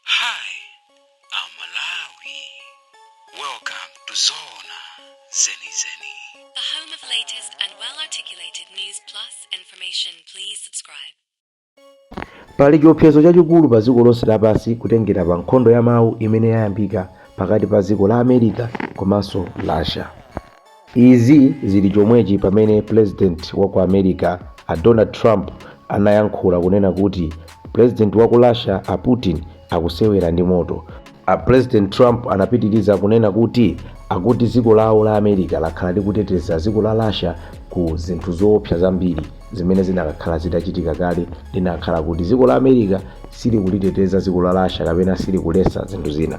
Hi, aMalawi. Welcome to Zona Zeni Zeni. The home of latest and well articulated news plus information. Please subscribe. pali chiopsezo chachikulu pa dziko lonse lapansi kutengera pa nkhondo ya mawu imene yayambika pakati pa dziko la america komanso russia Izi zili chomwechi pamene pulezidenti wa ku America a Donald Trump anayankhula kunena kuti pulezidenti wa ku Russia a Putin akusewera ndi moto. A pulezidenti Trump anapitiliza kunena kuti akuti dziko lawo la America lakhala likuteteza dziko la Russia ku zinthu zoopsa zambiri zimene zinakakhala zitachitika kale linakakhala kuti dziko la America silikuliteteza dziko la Russia kapena silikuletsa zinthu zina.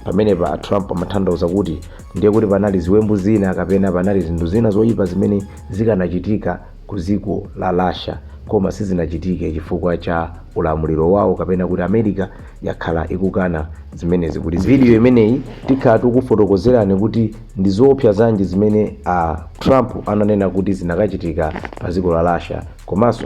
pamenepa a trump amatanthauza kuti ndiye kuti panali ziwembu zina kapena panali zinthu zina zoyipa zimene zikanachitika ku dziko la russia koma sizinachitike chifukwa cha ulamuliro wawo kapena kuti america yakhala ikukana zimenezi ku video imeneyi tikhala tikufotokozerani kuti ndi zoopsa zanji zimene a trump ananena kuti zinakachitika pa dziko la russia komanso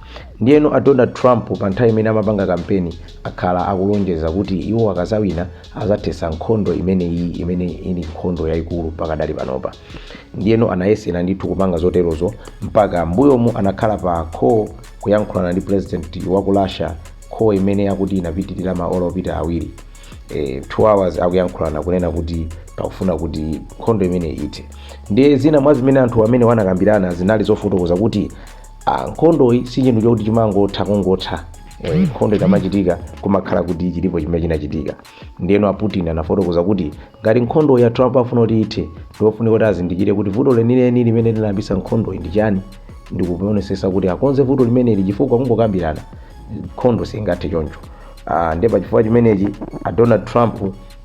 Ndiyeno a Donald Trump pa nthawi imene amapanga kampeni akhala akulonjeza kuti iwo akadzawina adzathetsa nkhondo imeneyi imene ili nkhondo yayikulu pakadali panopa. Ndiyeno anayesera ndithu kupanga zoterozo mpaka m'mbuyomu anakhala pa call kuyankhulana ndi pulezidenti wa ku Russia, call imene akuti inapitirira maola opita awiri. Eh, 2 hours akuyankhulana kunena kuti pakufuna kuti nkhondo imeneyi ithe. Ndiye zina mwa zimene anthu amenewa anakambirana zinali zofotokoza kuti Ah, nkhondoyi si chinthu chokuti chimangotha kungotha Eh, nkhondo ikamachitika kumakhala kuti chilipo chimene chinachitika ndiyeno a putin anafotokoza kuti ngati nkhondoyi a trump afuna kuti ithe ndiofunika kuti azindikire kuti vuto lenileni limene linayambisa nkhondoyi ndi chani ndikuonesesa kuti akonze vuto limeneli chifukwa kungokambirana nkhondo singathe choncho Ah, ndiye pachifukwa chimenechi a donald trump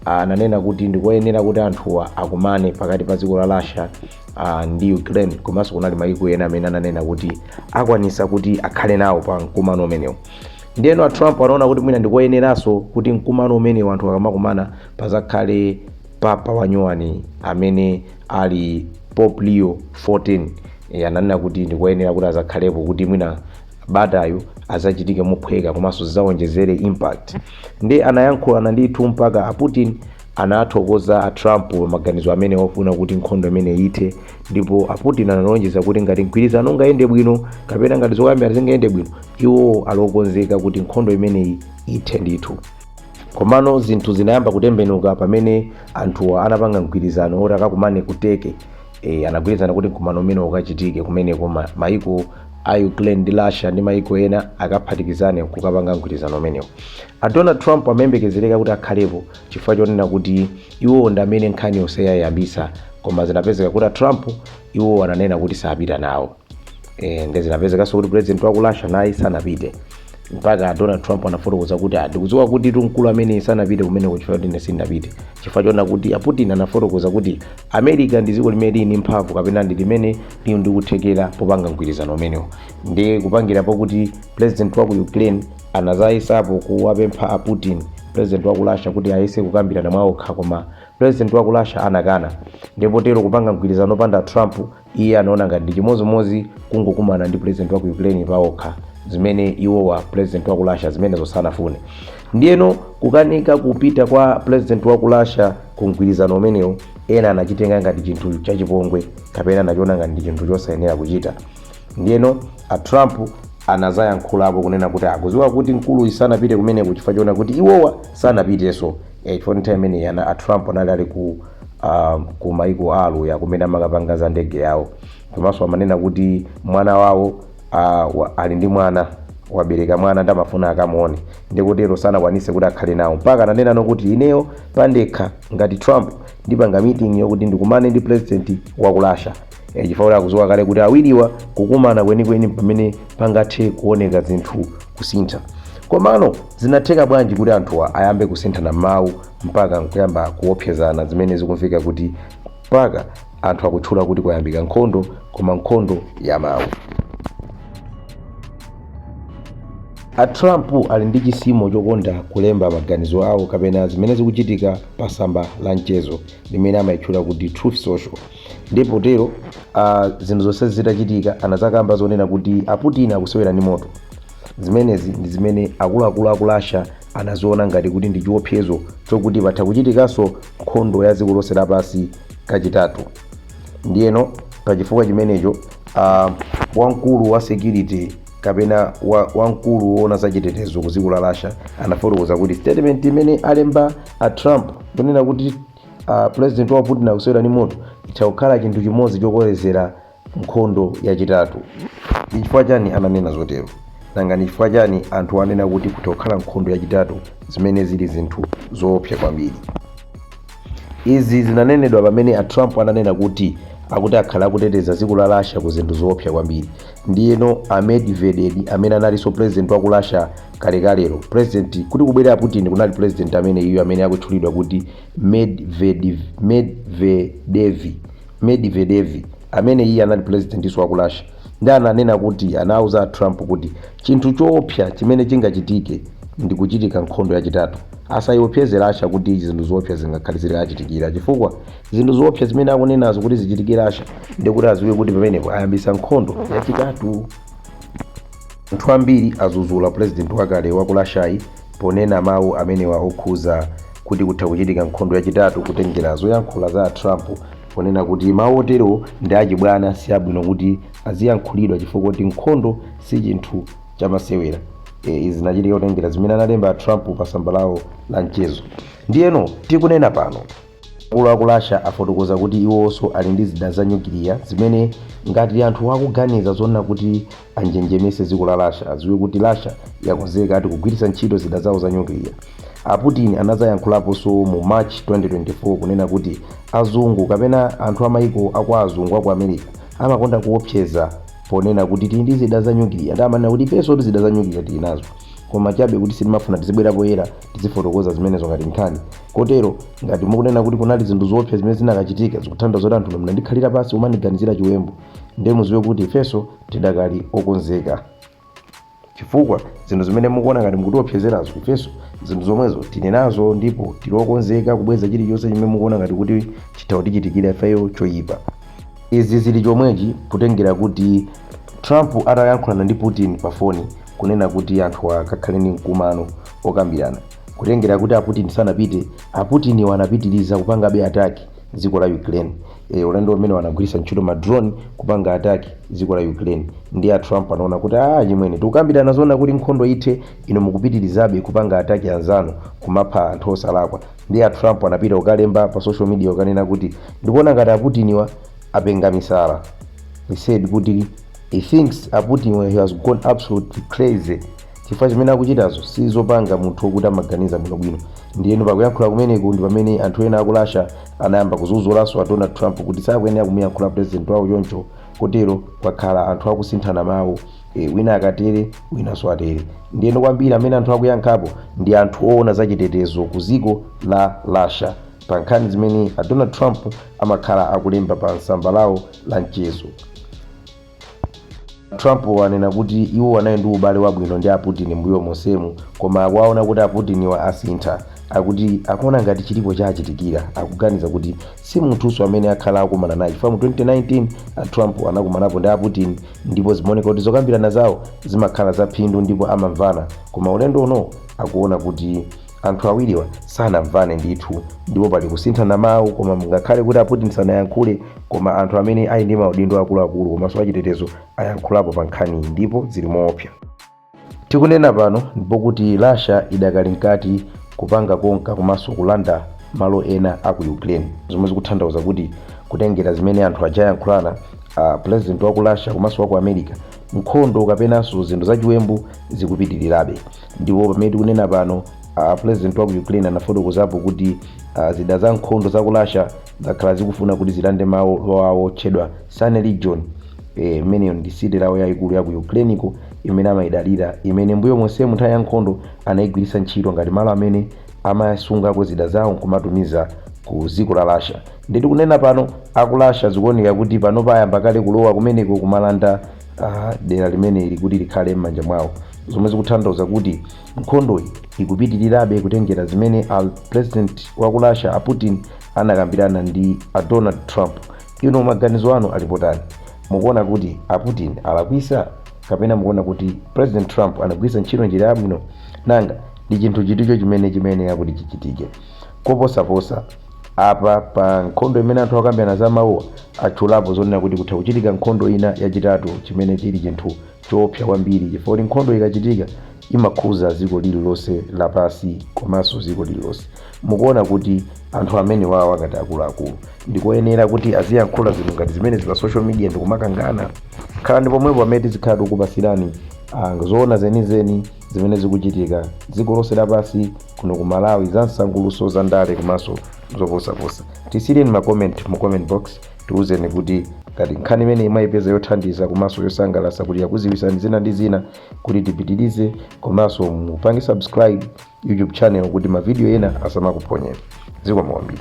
ananena kuti ndikoyenera kuti anthuwa akumane pakati pa dziko la russia uh, ndi ukraine komanso kunali maiko ena amene ananena kuti akwanisa kuti akhale nawo pa mkumano umenewu ndiyeno a trump anaona kuti mwina ndikoyeneranso kuti mkumano umenewu anthu akamakumana pazakhale papa wanyuwani amene ali pope leo 14 e, ananena kuti ndikoyenera kuti azakhalepo kuti mwina batayo azachitike mophweka komanso zizawonjezere impact ndiye anayankhulana ndithu mpaka a putin Anathokoza a Trump pa maganizo amene ofuna kuti nkhondo imeneyi ithe ndipo a Putin analonjeza kuti ngati mgwirizano ungayende bwino kapena ngati zokambirana zingayende bwino, iwo ali okonzeka kuti nkhondo imeneyi ithe ndithu. Komano zinthu zinayamba kutembenuka pamene anthuwa anapanga mgwirizano woti akakumane ku Turkey. Eee, anagwirizana kuti mkumano umenewu ukachitike kumeneko, mayiko a Ukraine ndi Russia ndi mayiko ena akaphatikizane n'kukapanga mgwirizano umenewu. A Donald Trump amayembekezereka kuti akhalepo. chifukwa chonena kuti iwowo ndi amene nkhani yonse ayiyambitsa koma zinapezeka kuti a trump iwowo ananena kuti sapita nawo e, nde zinapezekanso kuti president wa ku russia naye sanapite mpaka donald trump anafotokoza kuti "Ah, ndikudziwa kuti mkulu ameneyu sanapite kumeneko chifukwa kuti ine sindinapite chifukwa chonena kuti a putin anafotokoza kuti america ndi dziko limene lili ndi mphamvu kapena ndi limene lili ndi kuthekera popanga mgwirizano umenewo ndi kupangirapo kuti president wa ku ukraine Anazayesapo kuwapempha a Putin, president wa ku Russia, kuti ayese kukambirana mwa okha koma president wa ku Russia anakana. Ndiye potero kupanga mgwirizano opanda Trump iye anaona ngati ndi chimodzimodzi kungokumana ndi president wa ku Ukraine pa okha, zimene iwowa president wa ku Russia zimenezo sanafune. Ndiyeno kukanika kupita kwa president wa ku Russia ku mgwirizano umenewu ena anachitenga ngati chinthu chachipongwe kapena anachiona ngati ndi chinthu chosayenera kuchita. Ndiyeno a Trump anazayankhulapo kunena kuti akuziwa kuti mkuluyi sanapite kumeneku chifukwa chonena kuti iwowa sanapiteso e, chifukwa nthawi imeneyi ana a Trump anali ali ku uh, ku maiko a aluya kumene amakapanga za ndege yawo komanso amanena kuti mwana wawo uh, wa, ali ndi mwana wabereka mwana nde amafuna akamuone nde kutero sanakwanise kuti akhale nawo mpaka ananena nokuti ineyo pandekha ngati Trump ndipanga meeting yokuti ndikumane ndi president wa ku Russia Eh, chifukwa akudziwa kale kuti awiriwa kukumana kwenikweni pamene pangathe kuoneka zinthu kusintha komano zinatheka bwanji kuti anthuwa ayambe kusinthana mawu mpaka nkuyamba kuopsezana zimene zikumveka kuti mpaka anthu akutchula kuti kwayambika nkhondo koma nkhondo ya mawu a trump ali ndi chisimo chokonda kulemba maganizo awo kapena zimene zikuchitika pa tsamba la mchezo limene amayitchula kuti truth social ndiye potero ah, zinthu zonse zitachitika anazakamba zonena kuti a putin akusewera ndi moto zimenezi ndi zimene akuluakulu aku russia anaziona ngati kuti ndi chiopsezo chokuti patha kuchitikanso nkhondo ya dziko lonse lapansi kachitatu ndiyeno pachifukwa chimenecho uh, wamkulu wa security kapena wa- wamkulu woona za chitetezo ku dziko la russia anafotokoza kuti statement imene alemba a trump kunena kuti a president wa Putin akusewera ndi moto zitha kukhala chinthu chimodzi chokolezera nkhondo yachitatu. Ndi chifukwa chani ananena zotero? Nanga ndi chifukwa chani anthu anena kuti kutha kukhala nkhondo yachitatu zimene zili zinthu zoopsa kwambiri? Izi zinanenedwa pamene a Trump ananena kuti akuti akhala akuteteza dziko la Russia ku zinthu zoopsa kwambiri. Ndiyeno a Medvedev amene analinso president wa ku Russia kalekalelo president kuti kubwera putin kunali president amene iyo amene akutchulidwa kuti medvedev amene iye anali presidentinso wa ku russia ndi ananena kuti anauza trump kuti chinthu choopsa chimene chingachitike ndi kuchitika nkhondo yachitatu asayiopseze rasha kuti zinthu zoopsa zingakhale zitaichitikira chifukwa zinthu zoopsa zimene akunenazo kuti zichitikire rasha ndikuti aziwe kuti pamenepo ayambisa nkhondo yachitatu Anthu ambiri azuzula president wakale waku Russiayi ponena mawu amenewa okhuza kuti kutha kuchitika nkhondo yachitatu kutengera zoyankhula za a Trump ponena kuti mawu oterowo ndi achibwana siabwino kuti aziyankhulidwa chifukwa kuti nkhondo sichinthu chamasewera. Izi zinachitika kutengera zimene analemba a Trump pa tsamba lawo la mchezo. Ndiyeno tikunena pano. Akulu a ku Russia afotokoza kuti iwonso ali ndi zida za nyukiliya zimene ngati anthu akuganiza zonena kuti anjenjemetse dziko la Russia, adziwe kuti Russia yakonzeka ati kugwiritsa ntchito zida zawo za nyukiliya. A Putin anadzayankhulaponso mu March 2024 kunena kuti azungu kapena anthu a mayiko a kwa azungu a ku America amakonda kuopseza ponena kuti tili ndi zida za nyukiliya. Ndiye amanena kuti ifensotu zida za nyukiliya tili nazo koma chabe kuti sitimafuna tizibwera poyera. tizifotokoza zimenezo ngati nkhani kotero ngati mukunena kuti kunali zinthu zoopsa zimene zinakachitika zikutanthauza zoti anthu munandikhalira pansi kumandiganizira chiwembu ndiye muziwe kuti ifenso tidakali okonzeka chifukwa zinthu zimene mukuona ngati mukutiopsezerazo ifenso zinthu zomwezo tili nazo ndipo tili okonzeka kubweza chilichonse chimene mukuona ngati kuti chitha kutichitikira ifeyo choyipa izi zili chomwechi kutengera kuti trump atayankhulana ndi putin pa foni kunena kuti anthuwa akakhale ndi mkumano okambirana kutengera kuti a Putin sanapite, a Putiniwa anapitiriza kupangabe attack dziko la Ukraine. E, ulendo umenewu anagwiritsa ntchito ma drone kupanga attack dziko la Ukraine ndiye a Trump anaona kuti ah, chimwene tikukambirana zonena kuti nkhondo ithe, inu mukupitirizabe kupanga attack anzanu kumapha anthu osalakwa. Ndiye a Trump anapita kukalemba pa social media kukanena kuti ndikuona ngati a Putiniwa apenga misala. He said kuti He thinks a Putin he has gone absolutely crazy chifukwa chimene akuchitazo si zopanga munthu wokuti amaganiza bwinobwino ndiyeno pakuyankhula kumeneko ndi pamene anthu ena aku Russia anayamba kudzuzulanso a Donald Trump kuti sakuyenera kumuyankhula president wawo choncho kotero kwakhala anthu akusinthana mawu e, wina akatere winanso atere ndiyeno kwambiri amene anthu akuyankhapo ndi anthu oona zachitetezo ku dziko la Russia pa nkhani zimene a Donald Trump amakhala akulemba pa tsamba lawo la mchezo. Trump wanena kuti iwo anali ndi ubale wabwino ndi a Putin mbuyo monsemu koma akuona kuti a Putiniwa asintha akuti akuona ngati chilipo chachitikira akuganiza kuti si munthunso amene akhala akumana naye chifukwa mu 2019 a Trump anakumanapo ndi a Putin ndipo zimaoneka kuti zokambirana zawo zimakhala zaphindu ndipo amamvana koma ulendo uno akuona kuti Anthu awiriwa sanamvane ndithu ndipo pali kusinthana mawu koma ngakhale kuti a Putin sanayankhule koma anthu amene ali ndi maudindo akuluakulu komanso achitetezo ayankhulapo pa nkhaniyi ndipo zili moopsa. Tikunena pano ndipo kuti Russia idakali mkati kupanga konka komanso kulanda malo ena a ku Ukraine zomwe zikuthandauza kuti kutengera zimene anthu ajayankhulana a president wa ku Russia komanso wa ku America nkhondo kapenanso zinthu zachiwembu zikupitirirabe. Ndipo pamene tikunena pano, a president wa ku Ukraine anafotokozapo kuti ah, zida za nkhondo za ku Russia zakhala zikufuna kuti zilande malo awo otchedwa Sumy Region. Eh, imeneyo ndi city lawo yayikulu ya ku Ukraineko imene amayidalira imene mbuyo monsemu nthawi ya nkhondo anayigwiritsa ntchito ngati malo amene amasungako zida zawo nkumatumiza ku dziko la Russia. Ndi tikunena pano a ku Russia zikuoneka kuti panopa ayamba kale kulowa kumeneko kumalanda dera limeneli kuti likhale m'manja mwawo, zomwe zikuthandauza kuti nkhondoyi ikupitilirabe kutengera zimene a President wa ku Russia a Putin anakambirana ndi a Donald Trump. Inu maganizo anu ali potani? Mukuona kuti a Putin alakwitsa? Kapena mukuona kuti President Trump anagwiritsa ntchito njira yabwino? Nanga ndi chinthu chiticho chimene chimayenera kuti chichitike koposaposa? Apa pa nkhondo imene anthu akambirana za mawuwa, atchulapo zonena kuti kutha kuchitika nkhondo ina yachitatu chimene chili chinthu choopsa kwambiri chifukwa nkhondo ikachitika imakhudza dziko lililonse lapansi komanso dziko lililonse. Mukuona kuti anthu amenewawa ngati akuluakulu ndi koyenera kuti aziyankhula zinthu ngati zimenezi pa social media ndi kumakangana? Khalani pomwepo pamene tizikhala tikukupatsirani ah, zoona zenizeni zimene zikuchitika dziko lonse lapansi. kuno ku malawi zamsangulutso za ndale komanso zoposaposa tisiyireni ma comment mu comment box tiwuzeni kuti ngati nkhani imeneyi mwayipeza yothandiza komanso yosangalatsa kuti yakudziwitsani zina ndi zina kuti tipitirize komanso mupange subscribe youtube channel kuti mavidiyo ena asamakuphonyeni zikomo kwambiri